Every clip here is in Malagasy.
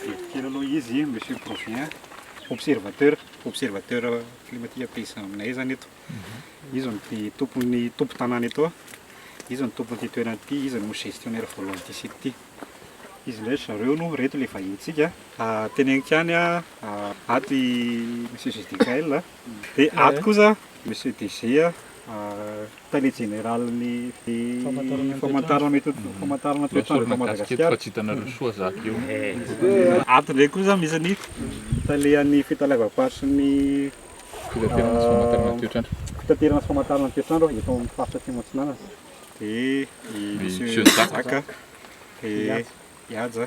Bebe kely aloha izy monsieur provient observateur observateur climatique paysan aminay zany eto izy no ty tompon'ny tompo tanàna eto izy no tompon'ity toerana ity izy no gestionnaire voalohan'ity site ity izy ndray zareo no reto le vahinintsika teneniko ihany ato i monsieur Gdgaël dia ato kosa monsieur DG Tale Jeneralin'ny Famantarana Toetrandro eto Madagasikara. Ato indray kosa misy ny Talehan'ny Fitaleavam-paritry ny Fitaterana sy Famantarana ny Toetrandro Fitaterana sy Famantarana ny Toetrandro eto amin'ny Faritra Atsimo Atsinanana dia i Monsieur Jacques Ihaja.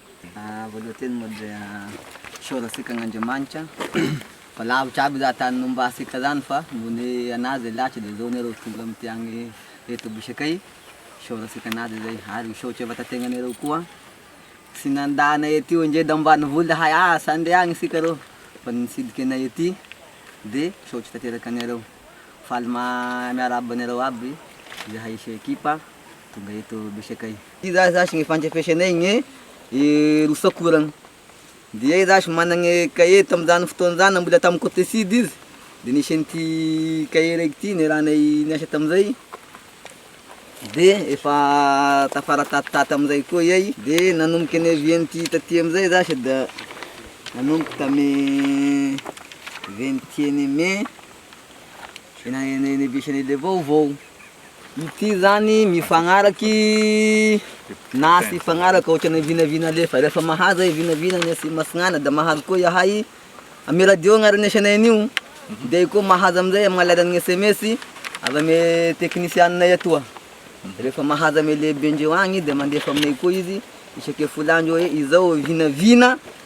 Voalohanteny moa dia misaotra antsika an'Andriamanitra fa lavitra aby zany tany nomba antsika zany fa nony an'azy zay lahatra dia zao ny areo tonga amty agny eto bosakay misaotra antsika an'azy zay ary misaotra vatategnanareo koa tsy nanda anay aty oe nge d'ambanivola zahay asa ande agny isika reo fa nitsidika anay aty de misaotra tanteraka anareo faly ma- miarahaba anareo aby zahay ekipa tonga eto bosakay. Ty za zasy gne fandrefesanay gne Rousseau koragny dia iay zasy managne cahier tamin'izany fotoana zany mbola tamy cote sud izy de nisy an'ity cahier raiky ty niarahanay niasa tamizay de efa tafara tatitaty amizay koa iay de nanomboky nevie an'ity taty amizay zasy da nanomboky tamy vingt et un mai. Ity zany mifagnaraka i Nasy mifagnaraka ohatran'ny vinavina alefa, rehefa mahazo ahay vinavina any Atsimon'i Masinaina dia mahazo koa izahay amin'ny radio agnarana isanay an'io, dia io koa mahazo amin'izay amin'ny alalan'ny sms avy amin'ny teknisianay atoa, rehefa mahazo amin'ny lehibendreo agny dia mandefa aminay koa izy isake folo andro hoe izao vinavina.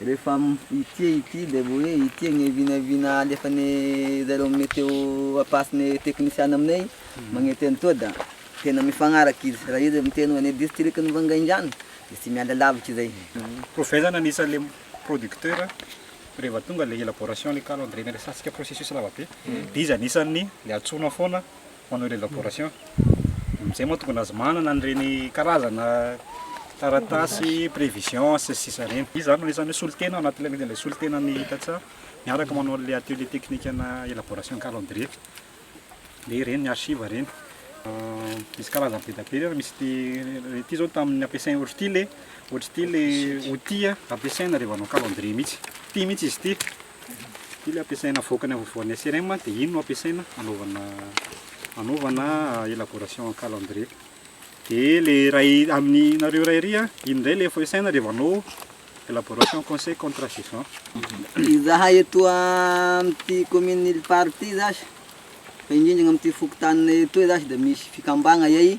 Rehefa ity e ity dia vao hoe ity anie e vina vina alefane zareo meteo ampasine teknisiana aminay magnety an'itoa da tena mifagnaraka izy raha izy miteny hoe any distrikan'i Vangaindrano dia tsy miala lavitra izay. Provaizana anisan'ilay producteur rehefa tonga ilay élaboration ilay calendrier na ilay satsika processus lavabe dia izy anisan'ny le antsoina foana Panneau d'elaboration, amin'izay moa tokony aza manana an'ireny karazana taratasy prévision sy ny sisa ireny. Izy izany no anisan'ny hoe solontena ao anatin'ilay solontena ny Itatsaha miaraka manao an'ilay atelier technique ana elaboration calendrier dia ireny ny archive ireny. Misy karazany be dia be ireny, misy ity ity izao tamin'ny ampiasaina ohatr'ity le ohatr'ity le outil ampiasaina rehefa hanao calendrier mihitsy, ity mihitsy izy ity. Ity le ampiasaina avoaka ny havoan'ny SRM dia iny no ampiasaina anaovana anaovana élaboration en calendrier. Dia le iray amin'ny nareo iray ery iny indray le ampiasaina rehefa anao élaboration conseil contre saison. Izahay eto amin'ity commune Iliparo ity zasy fa indrindra amin'ity fokontaninay etoy zasy dia misy fikambagna iay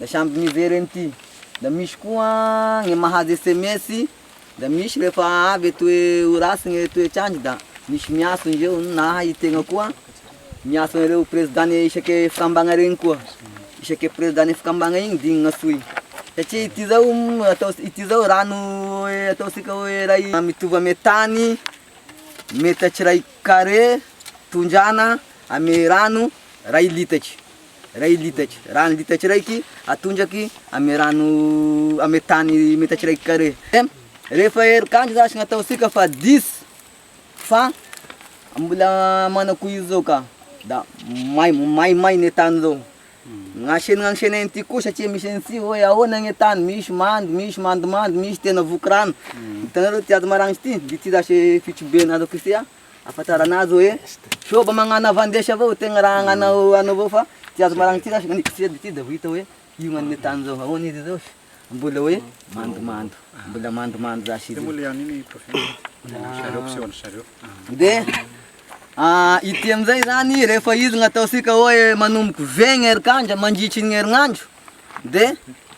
Da samby mivereny ty. Da misy koa gne mahazo sms, da misy rehefa avy e toe ho ratsy gne toetr'andro da misy miantso ndreo, na i tegna koa miantso an'ireo prezidàne isake fikambagna regny koa, isake prezidàne fikambagna igny digny gn'antsoy, satria ity zao atao ity zao rano ataontsika hoe ray mitovy ame tany metatra iraika carré tondrahana ame rano ray litatry. Iray litatra. Raha ny litatra iraiky, atondraky amin'ny rano amin'ny tany metatra iraiky carré. Rehefa herin-kandro zasy no ataontsika fa diso fa mbola manao koa izy zao ka da may maimay ny tany zao. Ny asenaina asenaina ity koa satria misy an'ity hoe ahoana ny tany, misy mando, misy mandomando, misy tena voky rano. Hitanareo ity ato maranitra ity, ity zasy fitrobeana ato Kosiha. Ahafantarana azy hoe sao mba magnano havan-desy avao io tegna raha agnana anao avao fa tsy azo maragnina ty rasy naniako seza ty de vao hita hoe io gnan'ny tany zao ahoana izy zao sy mbola hoe mandomando mbola mandomando zasy izy io de ity amizay zany rehefa izy gnataontsika hoe manomboky vegny herin-kandro mandritry ny herinandro de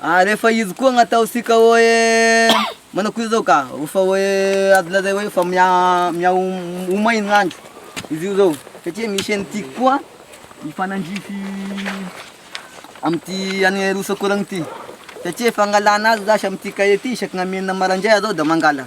Ary efa izy koa gn'ataontsika hoe manao koa zao ka, rehefa hoe azo lazaina hoe efa miha- miha- ho may ny andro izy io zao satria misy an'i Tiky koa mifanandrify amin'ity an'i Roa-Sakorana ity satria fangalana azy zash amin'ity kahie ity isaky ny amenina maraindray areo da mangala.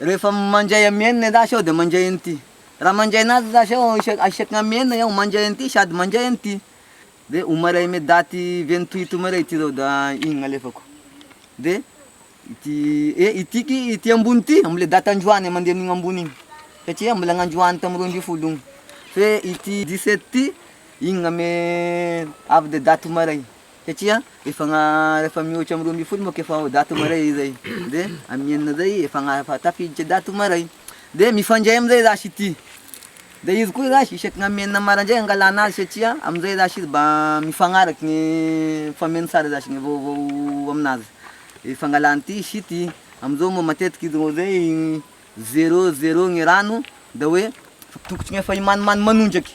Rehefa mandray am enina zasy aho de mandray an'ity, raha mandray anazy zasy aho isaky ny am enina aho mandray an'ity sady mandray an'ity de omaray ame daty vingt huit omaray ty zao da iny gn'alefako de ity e ity ky ity ambony ty amle daty androany mande amin'igny ambony igny satria mbola gn'androany tamy roa ambin'ny folo igny fe ity dix sept ty igny gn'ame avy de daty omaray. satria efa rehefa mihoatra amin'ny roa ambin'ny folo manko efa ao daty maray zay de amin'ny enina zay efa efa tafiditra daty maray de mifandray amizay za sy ty de izy koa za sy isaky ny amin'ny enina maraindray angalana azy satria amizay za sy izy mba mifagnaraky ny fameno sary za sy ny vaovao aminazy de fangalany ty sy ty amizao moa matetiky izy roa zay zero zero ny rano de hoe tokony efa himanimany manondraky.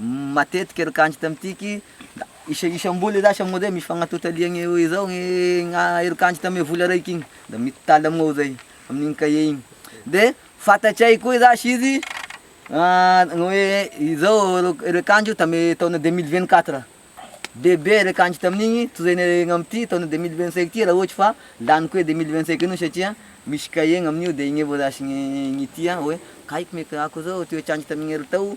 Matetika ry kanjo tamitiky da isa isam-bola za samy ohatr'zay misy fagnatota liagny eo izao gny gna ry kanjo tame vola raiky igny da mititaly amignao zay amin'igny cahier igny de fantatray koa zasy izy gny hoe izao ro ry kanjo tame taona deux mille vingt quatre bebe ry kanjo tamin'igny toy zay ny amity taona deux mille vingt cinq ty raha ohatry fa laniko hoe deux mille vingt cinq an'io satria misy cahier gn'amin'io de igny avao zasy gny gny tia hoe kay ko mety ako zao toetr'andro tamin'ny herintaogno.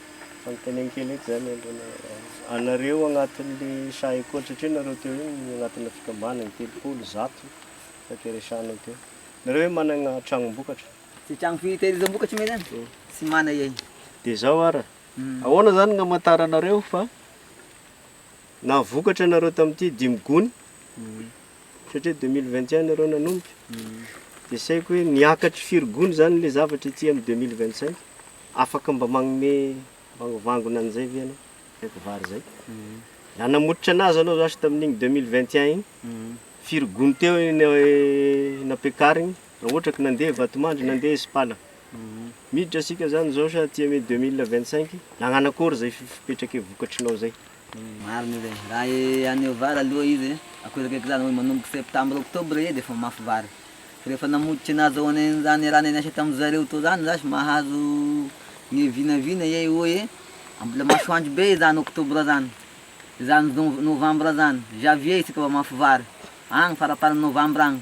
Fanontaniana kely eto zany aloha, anareo agnatin'le saha école satria nareo teo iny agnatina fikambanana telopolo, zato fa te resahanao teo. Nareo ve managna tragnom-bokatra? Tsy tragno fitehirizam-bokatra moa zany tsy mana iay. De zao ara, ahoana zany no amantaranareo fa nahavokatra nareo tamty dimy gony satria deux mille vingt et un nareo nanomboka de saiko hoe niakatry firy gony zany le zavatra ety am deux mille vingt cinq? Afaka mba magnome vangovangona an'izay ve ianao? Rehefa vary izay. Raha namototry anazy anao zasy tamin'igny deux mille vingt et un igny, firy gony teo no nampiakarigny? Raha ohatra ka nandeha Vatomandry, nandeha Isipala. Miditra isika zany izao sa aty amin'ny deux mille vingt cinq? Nagnano akory izay fipetraky vokatrinao izay? Marina io zay. Raha haneho vary aloha izy akory akaiky zany hoe manomboka septembre octobre edy efa mafy vary. Fa rehefa namototry ny azo an'izany raha niasa tamin'ny zareo teo zany zash mahazo ny vinavina ey oh e! mbola masoandro be izany octobre zany, izany novembre zany, javier isika vao mafy vary, agny faraparan'ny novembre agny.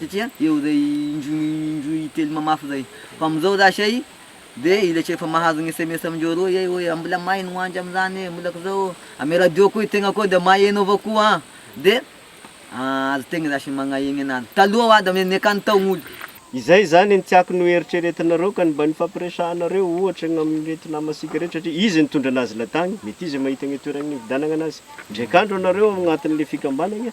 satria eo zay indroa indroa intelo mamafy zay fa amizao za zay de ilay tsy efa mahazo ny sms amindreo roa zay hoe mbola may ny ho andry amizany e mbola k'zao amy radio koa i tegna koa de maheno avao koa an de aza tegna za sy magnahegny anazy taloha wa da ny akany tao gn'olo. Izay zany ny tiako noeritreretinareo ka ny mba nifampiresahanareo ohatra ny amin'ireto namasika ireto satria izy nitondra anazy latagny mety izy mahita ny toeragny nividanagna anazy ndraik'andro anareo ao agnatin'le fikambanagna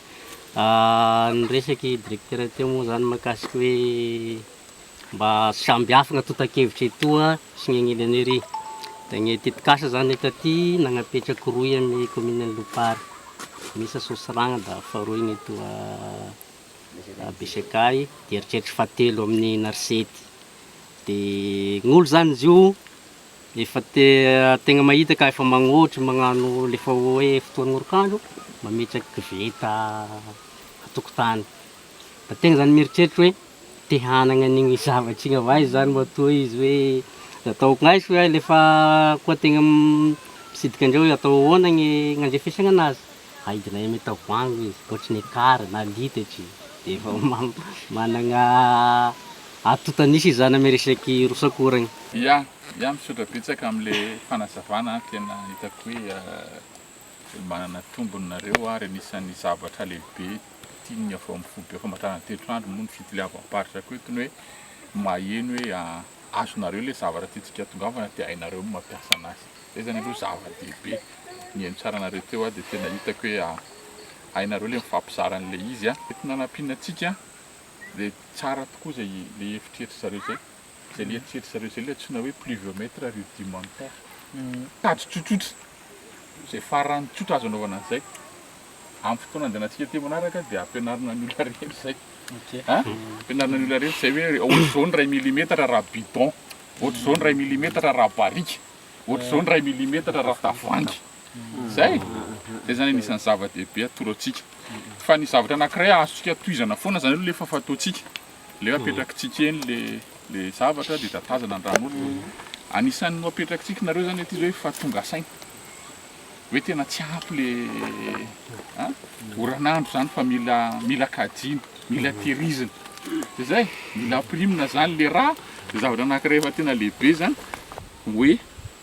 Niresaka i Directeur teo moa izany mahakasika hoe mba samihafa ny antontan-kevitra etoa sy ny any Ilaniry. Dia ny tetikasa izany eto aty nanapetraka rohy amin'ny Kaominina Lopary, Mesa Sosiragna dia faharoa iny etoa Besekay, dia eritreritro fahatelo amin'ny Narsety. Dia ny olo izany izy io, Rehefa tegna mahita ka efa magnôtry magnano le efa hoe fotoan'orik'andro, mametraka koveta an-tokotany. Da tegna zany mieritreritry hoe te hanagna an'igny zavatry igny avao aiza zany matoa izy hoe ataoko gn'aiza fa le fa koa tegna mitsidika andreo hoe atao ahoana gny gn'andrefesagna anazy. Aidinay amin'ny tavoahangy izy, ohatry ny ekara na litatry, dia efa manana atotan'isa izany amin'ny resaky rosakoragna. Ya, ya, misaotra betsaka amin'le fanazavana a, tena hitako hoe manana tombony nareo ary anisan'ny zavatra lehibe tian'ny avy ao amin'ny foibe famantarana teto andro moa ny fitiliavam-paritra ko eto ny hoe maheno hoe azonareo le zavatra tiantsika atongavana dia hainareo ny mampiasa anazy. Zay zany aloha zava-dehibe. Nihaino tsara anareo teo aho dia tena hitako hoe hainareo ilay mifampizara an'ilay izy. Mety nanampiana antsika dia tsara tokoa izay ilay eritreritra zareo izay. Izay ilay eritreritra zareo izay ilay antsoina hoe pluviomètre rudimentaire. Tady tsotsotra, izay farany tsotra azo anaovana an'izay. Amin'ny fotoana handehanantsika aty manaraka dia hampianarina ny olona rehetra izay. Hampianarina ny olona rehetra izay hoe ohatr'izao ny iray milimetatra raha bidon, ohatr'izao ny iray milimetatra raha barika. ohatr'izao ny iray milimetatra ravi-tavoahangy. Izay! Izay izany anisan'ny zava-dehibe atoro antsika. Fa ny zavatra anankiray azontsika tohizana foana izany aloha ilay efa fataontsika. Ilay hoe apetrakitsika eny ilay ilay zavatra dia tatazana ny rà an'olona. Anisan'ny ho apetrakitsika nareo izany ilay teny hoe fa tonga saina. hoe tena tsy ampy le oran'andro zany fa mila mila kajiana, mila tehirizina. De zay, mila ampirimina zany le rà, de zavatra anankiray efa tena lehibe zany hoe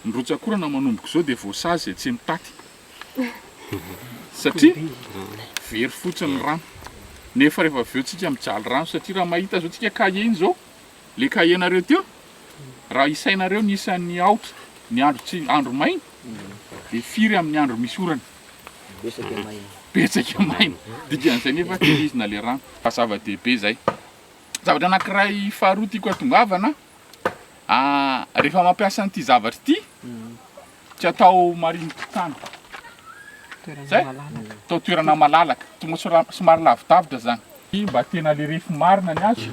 ny rotsak'orana manomboka izao dia voasazy izay tsy mitaty satria very fotsiny ny rano, nefa rehefa avy eo tsika mijaly rano satria raha mahita zao tsika kahie iny zao, Le cahier nareo teo, raha isainareo ny isan'ny aotra ny andro tsy andro maina de firy amin'ny andro misy orana? Betsaka maina. Betsaka maina. Dikan'izay nefa tsy hizina le rano. Fa zava-dehibe zay. Zavatra anankiray faharoa tiako atongavana, rehefa mampiasa an'ity zavatra ity, Tsy atao marinin-tokotany. Zay? Atao toerana malalaka. Tonga sora- somary lavidavitra zany. Iny mba tena le refy marina ny azy.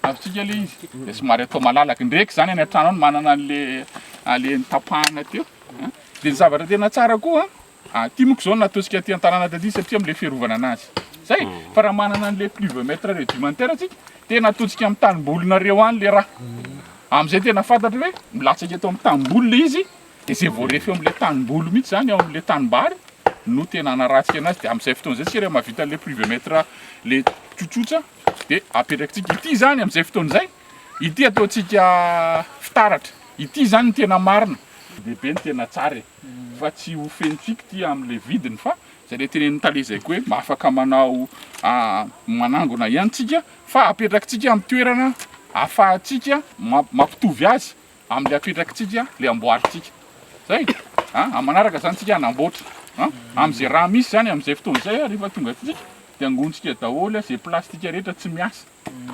Azontsika le izy. De somary atao malalaka. Ndreky zany any an-trano any manana an'le an'le nitapahana teo. An? De ny zavatra tena tsara koa, Aty moko zao natosika aty an-tanàna taty satria amle fiarovana anazy zay fa raha manana anle pluvemètre rudimentaire atsika dia natosika am tanimbolinareo any le raha amzay tena fantatra hoe milatsaka eto am tanimboly le izy de zay voarefy eo amle tanimboly mitsy zany eo amle tanimbary no tena hanaratsika anazy de amzay fotoana zay tsika raha mahavita anle pluvemètre le tsotsotra de apetrakitsika ity zany amzay fotoana zay ity ataontsika fitaratra ity zany ny tena marina lehibe ny tena tsara e fa tsy ho feno fikitia amin'ilay vidiny fa izay ilay tenenin'i Tale zay koa hoe mba afaka manao manangona ihany tsika fa apetrakitsika amin'ny toerana afahantsika mampitovy azy amin'ilay apetrakitsika ilay amboarintsika zay a amin'ny manaraka izany tsika hanamboatra a amin'izay raha misy izany amin'izay fotoana izay a rehefa tonga atsika dia angontsika daholo izay plastika rehetra tsy miasa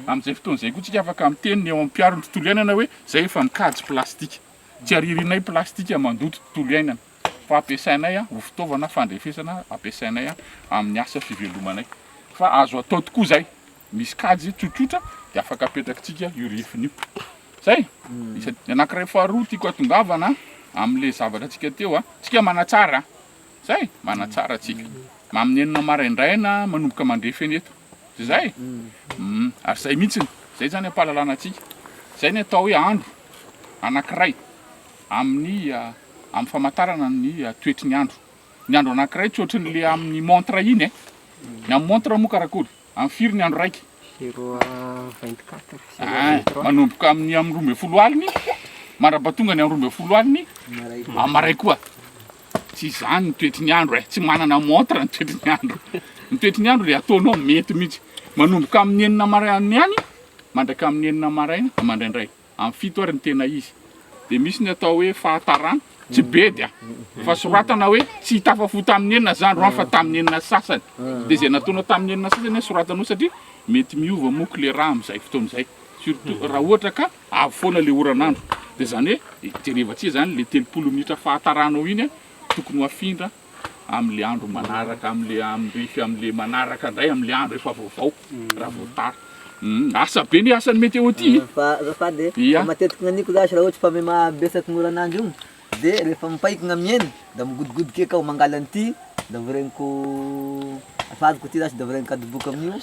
amin'izay fotoana izay koa tsika afaka miteny ny eo amin'ny mpiaro ny tontolo iainana hoe izay efa mikajy plastika Tsy ariarianay plastika mandoto tontolo iainana fa ampiasainay ho fitaovana fandrefesana ampiasainay amin'ny asa fivelomanay. Fa azo atao tokoa izay, misy kajy tsotsotra dia afaka apetrakitsika io refiny io. Zay. Ny anankiray faharoa tiako atongavana amin'ilay zavatra antsika teo a, tsika manatsara a! Zay, manatsara tsika. Amin'ny enina maraindraina manomboka mandre fenetra. Tsy zay? Humm ary zay mihitsiny, zay zany ampahalalana antsika, zay ny atao hoe andro anankiray amin'ny amin'ny famantarana ny toetry ny andro, ny andro anankiray tsy ohatry ny le amin'ny montre iny eh, ny amin'ny montre moa karakory? Amin'ny firy ny andro raika? Zero à vingt quatre, zero à vingt trois, manomboka amin'ny amin'ny roa ambin'ny folo aliny mandrapatonga ny amin'ny roa ambin'ny folo aliny, amin'ny maray koa. Tsy izany ny toetry ny andro e! Tsy manana montre ny toetry ny andro. Ny toetry ny andro dia ataonao mety mihitsy. Manomboka amin'ny enina maraina ihany mandraka amin'ny enina maraina mandraindray. Amin'ny fito ary ny tena izy. Dia misy ny atao hoe fahatarana, tsy bedy an! Fa soratana hoe tsy tafafohy tamin'ny enina izany andro fa tamin'ny enina sy sasany. Dia izay nataonao tamin'ny enina sy sasany no soratanao satria mety miova moa ko le rà amin'izay fotoana izay. Surtout raha ohatra ka Avy foana le oran'andro de zany hoe jereva tsia zany le telopolo minitra fahataranao iny tokony ho afindra amle andro manaraka amle amrefy amle manaraka ndray amle andro efa vaovao raha vao tara humm asa be ny asan'ny meteo ty fa azafady e matetika gnaniko zasy raha ohatry fa mimabetsaky gn'oran'andro io. De rehefa mipaikina miaina da migodogodoka eka aho mangala an'ity da voreniko afahaziko ity zash da voreniko adoboka amin'io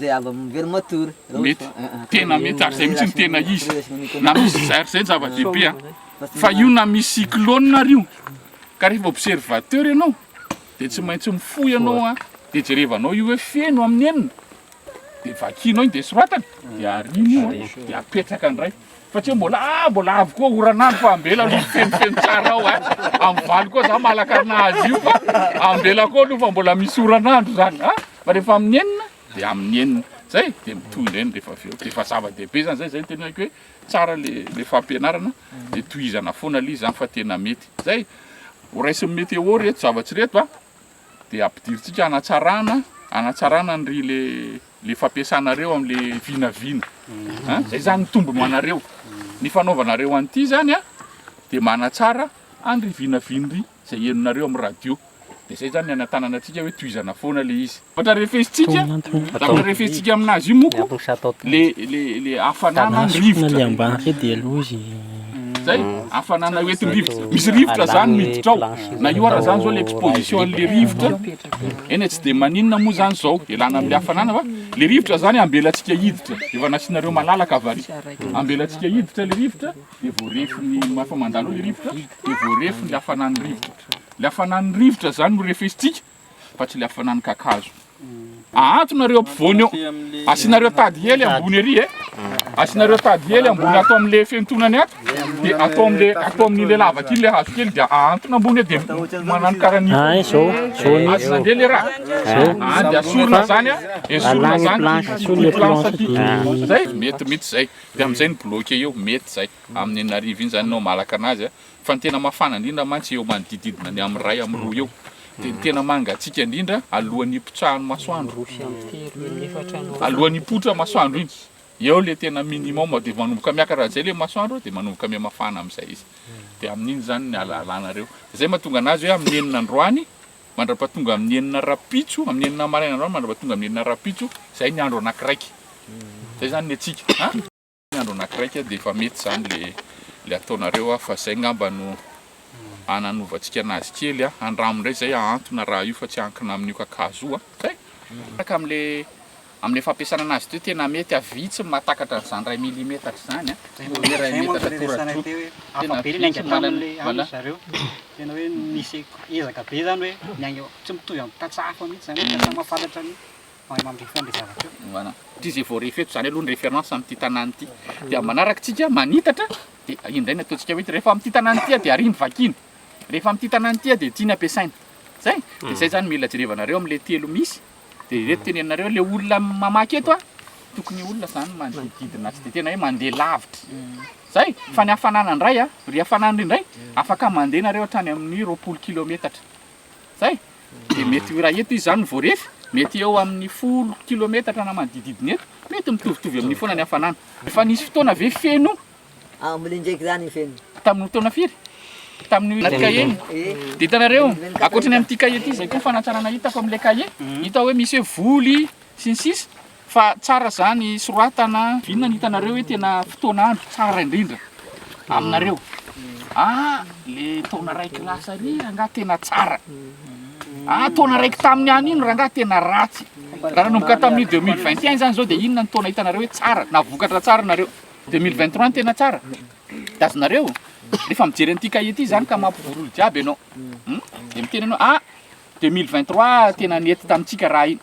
zay avy amin'ny very matory raha ohatra Mety. fa ah, ah, Tena mety ary izay mihitsy no tena izy. Reaction ny Na misy économie. zary zay zava-dehibe an. Fa io na misy cyclone ary io. Ka rehefa observateur ianao dia tsy maintsy mifoha ianao an. Dia jerevanao io hoe feno amin'ny enina. de vakianao iny de soratana de arianao de apetraka ndray fa tsy hoe mbola ah mbola avy koa oran'andro fa ambela aloha mifenofeno tsara ao a amin'ny valo koa za malakarina azy io fa ambela koa aloha fa mbola misy oran'andro zany a fa rehefa amin'ny enina de amin'ny enina zay de mitohy indray ny rehefa avy eo de efa zava-dehibe zany zay zay ny tena ilaiko hoe tsara le le fampianarana de tohizana foana le izy zany fa tena mety zay ho raisin'ny météo reto zava-tsy reto a dia ampidirintsika hanatsarana hanatsarana ny le le fampiasanareo amle vinavina a zay zany mitombo anareo ny fanaovanareo an'ity zany a de manatsara andry vinavinry zay henonareo am radio de zay zany anatanana atsika hoe tohizana foana le izy ohatra refesitsika zavatra refesitsika aminazy io moko le le le hafanana ny rivotra Zay, hafanana eo entin-drivotra. Misy rivotra zany miditra ao. Na io ara zany zao le exposition an'le rivotra. Eny e, tsy dia maninona moa zany zao, ialana amin'le hafanana fa le rivotra zany ambelantsika hiditra. Efa nasianareo malalaka va ry? Ambelantsika hiditra le rivotra, dia voarefin'ny, efa mandalo ao le rivotra, dia voarefin'le hafanan'ny rivotra. Le hafanan'ny rivotra zany no refesintsika, fa tsy le hafanan'ny kakazo. Ahanto nareo ampovoany eo. Asianareo tady hely ambony ery e. Asianareo tady hely ambony ato amle fentonany ato. Dia ato amle ato amin'ile lavaka iny le hazo kely dia ahantona ambony eo dia manano karany. Ah, izao. Izao ny. Azy nandeha le raha. Izao. Ah, dia asorina zany a. Esorina zany. Planche, asolo le planche aty. Zay, mety mihitsy zay. Dia amizay ny bloquer eo, mety zay. Amin'ny enina arivo iny zany nao malaka anazy a. Fa ny tena mafana indrindra mantsy eo manodidididina ny amin'ny iray amin'ny roa eo. Dia ny tena mangatsiaka indrindra alohan'ny hipotsahan'ny masoandro. Alohan'ny hipoitra masoandro iny, eo ilay tena minimum dia manomboka miakatra amin'izay ilay masoandro dia manomboka mihamafana amin'izay izy. Dia amin'iny izany ny halahalanareo. Izay mahatonga an'azy hoe amin'ny enina androany mandra-pahatonga amin'ny enina rahampitso, amin'ny enina maraina androany mandra-pahatonga amin'ny enina rahampitso, izay ny andro anakiraika. Izay izany ny antsika. Ny andro anakiraika dia efa mety izany le le ataonareo a fa izay ngamba no ananovantsika anazy kely a, andramo indray izay ahantona raha io fa tsy ankina amin'io kakazo io a, zay! Miaraka amle amle fampiasana anazy teo tena mety a, vitsy ny mahatakatra an'izany iray milimetatra izany a, ny iray metatra toradroa, tena vitsy manana. Mahay mamrefan le zavatra eo. Voilà. Satria zay vao ref eto zany aloha ny référence amin'ity tanàna ity. Dia amin'ny manaraka tsika manitatra dia indray ny ataontsika hoe rehefa amin'ity tanàna ity dia ariny vakina. Rehefa amin'ity tanàna ity dia tiany ampiasaina. Zay. Dia zay zany mila jerevanareo amin'ilay telo misy. Dia ireto tenenanareo ilay olona mamaky eto a tokony olona zany manodidina tsy dia tena hoe mandeha lavitra. Zay. Fa ny hafanana indray a, ry hafanana indray afaka mandeha nareo hatrany amin'ny roapolo kilometatra. Zay, dia mety raha eto izy zany voarefy, mety eo amin'ny folo kilometatra na manodidididina eto, mety mitovitovy amin'io foana ny hafanana. Efa nisy fotoana ve feno? Ah, mbola indraiky zany io feno. Tamin'ny taona firy? Tamin'io ity cahier iny? Dia hitanareo, ankoatra ny amin'ity cahier ity, izay koa ny fanatsarana hitako amin'ilay cahier, hita hoe misy hoe voly, sy ny sisa. Fa tsara zany soratana. Inona no hitanareo hoe tena fotoana andro tsara indrindra aminareo? Ah le taona raiky lasa ary rangaha tena tsara, ah taona raiky tamin'ny any iny rangaha tena ratsy, raha nanomboka tamin'ny deux mille vingt et un zany zao de inona ny taona hitanareo hoe tsara na vokatra tsara nareo? Deux mille vingt trois no tena tsara? De azonareo rehefa mijery an'ity kahie ty zany ka mampivorioro jiaby ianao, hum de miteny ianao ah 2023 tena nety tamintsika raha iny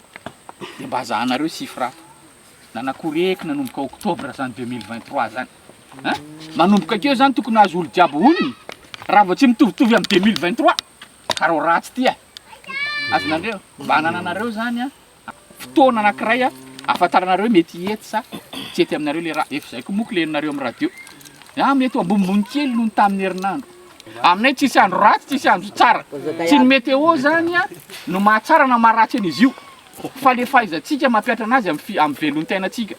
de mba zahanareo chiffre ato nanakory eky nanomboka octobre zany 2023 zany a manomboka akeo zany tokony azo olo jiaby honiny raha vao tsy mitovitovy am 2023 ka reo ratsy ty a azonareo mba anananareo zany a fotoana anakiray ahafantaranareo mety hiety sa tsy hety aminareo le raha, efa zay ko moa kileninareo am radio, ah mety ho ambonimbony kely noho ny tamin'ny herinandro, aminay tsisy andro ratsy tsisy andro tsara, tsy ny meteo zany an no mahatsara na maharatsy an'izy io fa le fahaizantsika mampihatra anazy am fi- am velontenantsika,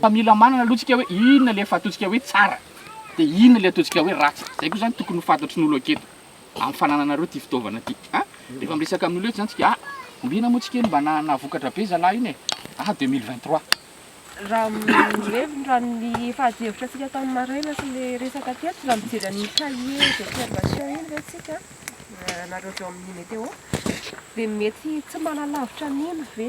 fa mila manana aloha tsika hoe inona le efa ataontsika hoe tsara de inona le ataontsika hoe ratsy, zay ko zany tokony ho fantatry ny olo aketo. amin'ny fanananareo ity fitaovana ity a! rehefa miresaka amin'olona eto zany tsika a! ombiana moa tsika iny mba nahavokatra be zalahy iny e! a 2023. Raha mirevy raha ny efa ady hevitra tsika tamin'ny maraina sy le resaka teto raha mijery an'iny cahier d'observation iny ve tsika anareo avy ao amin'ny météo dia mety tsy malalavitra an'iny ve?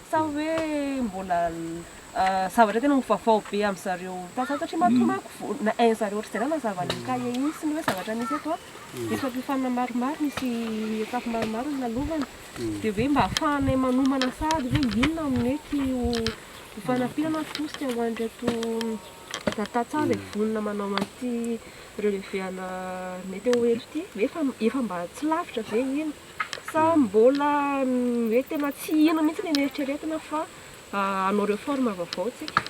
Sa hoe mbola zavatra tena ho vaovao be amin-dry zareo tantsaha satria matoa manko na hain-dry zareo ohatr'izay na nazava an'io kahie iny sy ny hoe zavatra misy eto an, misy fampiofanana maromaro, misy étapes maromaro nilalovana dia hoe mba hahafahanay manomana sahady hoe inona no mety ho fanampiana na tosika ho an'ireto tantsaha izay vonona manao an'ity relevé ana météo eto ity, hoe efa mba tsy lavitra ve iny? Sa mbola hoe tena tsy hino mihitsy ny eritreretina fa hanao reforme vaovao tsika?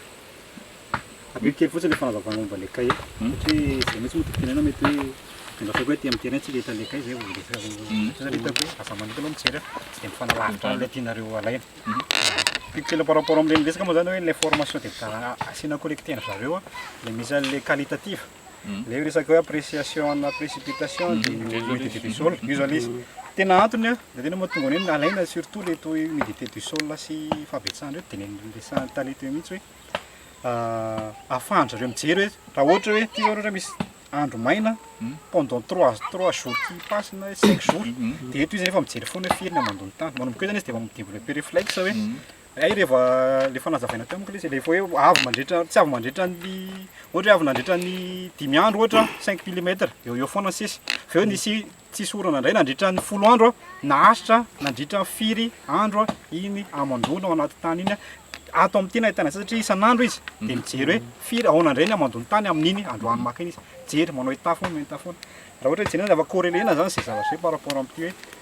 Adino kely fotsiny le fanazavana momba le cahier satria zay mihitsy moa tokony tenenina mety hoe mba ataoko hoe aty am terrain tsika ahitana le cahier zay vao resaka satria zany hitako hoe aza manota aloha mijery a tsy de mifanalavitra amle tianareo alaina Tiako kely par rapport amle miresaka moa zany hoe le formation de asiana collecter ndry zareo a le misy anle qualitative Ilay resaka hoe appréciation ana précipitation dia ny humidité du sol. Io izao ilay izy. Tena antony an, dia tena mahatonga an'io ny alaina surtout ilay toy humidité du sol sy fahabetsahana ireo dia ny resahan'ny tale teo mihitsy hoe ahafahan-dry zareo mijery hoe raha ohatra hoe ity izao raha ohatra misy andro maina pendant trois trois jours qui passent na hoe cinq jours dia eto izy efa mijery foana hoe firy ny hamandoan'ny tany. Manomboka eo izany izy dia efa mi-développer réflexe hoe. Hay reva le efa nazavaina teo manko lesy le efa hoe avy mandritra tsy avy mandritra ny ohatra hoe avy nandritra ny dimy andro ohatra cinq milimetre eo eo foana sisa fa eo nisy tsisy orana ndray nandritra ny folo andro naharitra nandritra ny firy andro iny hamandoana ao anaty tany iny ato amin'ny tena ahitana an'izay satria isan'andro izy dia mijery hoe firy ahoana indray ny hamandoan'ny tany amin'iny androany maka iny izy jery manao hitafy foana manao hitafy foana raha ohatra hoe jerena zava-corrélena zany izay zavatra zay par rapport amin'ity hoe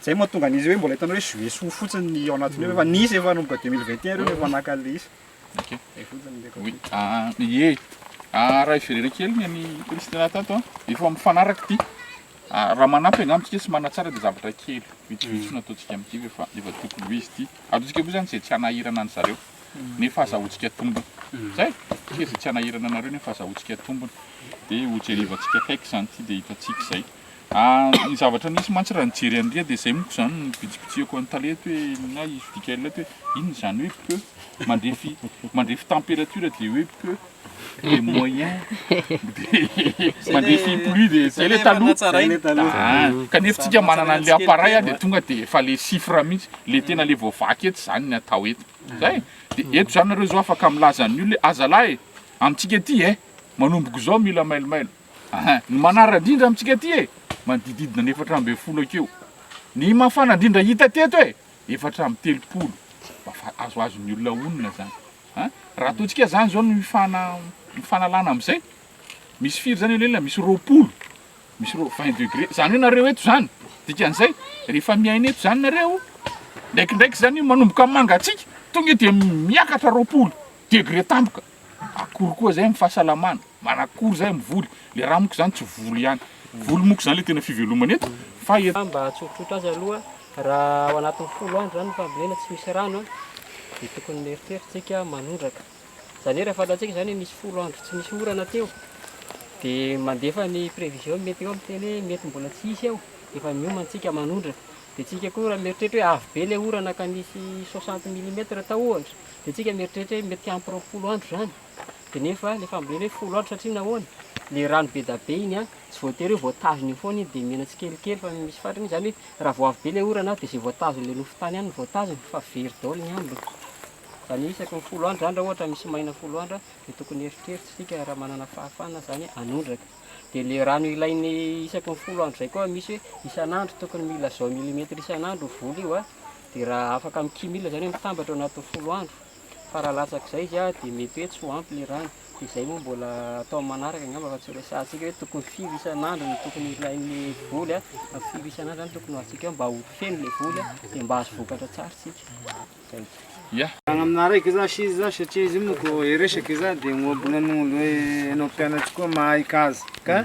Zay mahatonga an'izy hoe mbola hitanao hoe jouer soa fotsiny ny ao anatin'io efa nisy efa nanomboka deux mille vingt et un reo no efa naka an'le izy. Ok. Zay fotsiny le côté. Oui. Ah, ie. Ah, raha hiverena kely ny an'i Christina tato an, efa mifanaraka ity. Ah, raha manampy angamba tsika sy manatsara dia zavatra kely vitsivitsy no ataontsika amin'ity fa efa efa tokony ho izy ity. Ataontsika koa izany izay tsy hanahirana an'zareo nefa azahoantsika tombony. Zay. Tsika izay tsy hanahirana anareo nefa azahoantsika tombony. Dia hojerivantsika akaiky izany ity dia hitantsika izay. Ary ny zavatra nisy mantsy raha nijery an'i Ria dia izay monko izany no nibitsibitsiako an'i Tale eto hoe na i Vidicael eto hoe inona izany hoe peu? Mandrefy mandrefy temperature dia hoe peu? Dia moyen? Dia mandrefy plus dia izay ilay taloha? Ah, kanefa tsika manana an'ilay appareil ah dia tonga dia efa ilay chiffre mihitsy, ilay tena ilay voavaky eto izany ny atao eto. Izay? Dia eto izany nareo izao afaka milaza an'ny olona hoe azalahy e! Amintsika ety e! Manomboka izao mila mailomailo. Aha, ny manara-drindra amintsika aty e, manodidididna ny efatra ambin'ny folo akeo. Ny mafana indrindra hita teto e, efatra amby telopolo. Mba fa azoazon'ny olona honina zany. A, raha ataontsika zany zao ny fana, ny fanalana amzay, misy firy zany aleolelona, misy roapolo, misy roa, vingt degre, zany hoe nareo eto zany, dikan'zay, rehefa miaina eto zany nareo, ndraikindraiky zany io manomboka mangatsiaka, tonga dia miakatra roapolo degre tampoka. Akory koa zay am fahasalamana? Manakory zay am voly? Le raha moko zany tsy voly ihany. Voly moko zany le tena fivelomana eto fa eto. Mba hahatsoritroritra azy aloha, raha ao anatin'ny folo andro zany ny fambolena tsy misy rano dia tokony mieritreritra isika manondraka. Izany hoe raha fantatsika izany hoe nisy folo andro tsy nisy orana teo dia mandefa ny prévision ny météo miteny hoe mety mbola tsy hisy eo dia efa miomana isika manondraka. Dia isika koa raha mieritreritra hoe avy be ilay orana ka nisy 60 millimètre tao ohatra Dia tsika mieritreritra hoe mety hiampy roapolo andro izany, dia nefa ilay fambolena hoe folo andro satria nahoana? Ilay rano be dia be iny an, tsy voatery hoe voatazona eo foana iny dia mena tsikelikely fa misy faritra misy izany hoe raha vao avy be ilay orana dia izay voatazon'ilay nofy tany ihany no voatazona fa very daholo ny ambiny. Izany hoe isaky ny folo andro izany raha ohatra misy maina folo andro dia tokony hieritreritra isika raha manana fahafahana izany hanondraka. Dia ilay rano ilain'ny isaky ny folo andro izay koa misy hoe isan'andro tokony mila zao milimetatra isan'andro io voly io an, Dia raha afaka mikimila izany hoe mitambatra ao anatin'ny folo andro, fa raha latsak'izay izy dia mety hoe tsy ho ampy ilay rano, dia izay moa mbola atao amin'ny manaraka angamba fa tsy ho resahantsika hoe tokony firy isan'andro no tokony ilain'ny voly na firy isan'andro izany tokony ho azontsika eo mba ho feno ilay voly dia mba hahazo vokatra tsara isika. Manaraka zasy izy zany satria izy io manko resaky za de ohabolana olo hoe enao mpianatry koa mahay kazy ka.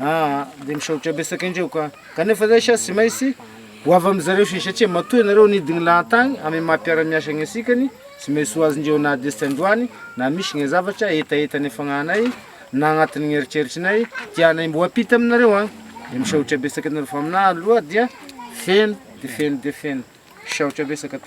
Aa de misaotra betsaka indreo ka. Kanefa zay sa tsy maintsy ho avy amin'zareo se satria matoa ianareo nidy gny lahan-tagny amin'ny maha mpiara-miasa gny asikany, tsy maintsy ho azondreo na dia tsy androany na misy gny zavatra hetaheta nifagnahanay na agnatin'ny gny eritreritrinay tianay mbo hampita aminareo agny. De misaotra betsaka ianareo fa aminaha aloha dia feno de feno de feno. Misaotra betsaka tompoko.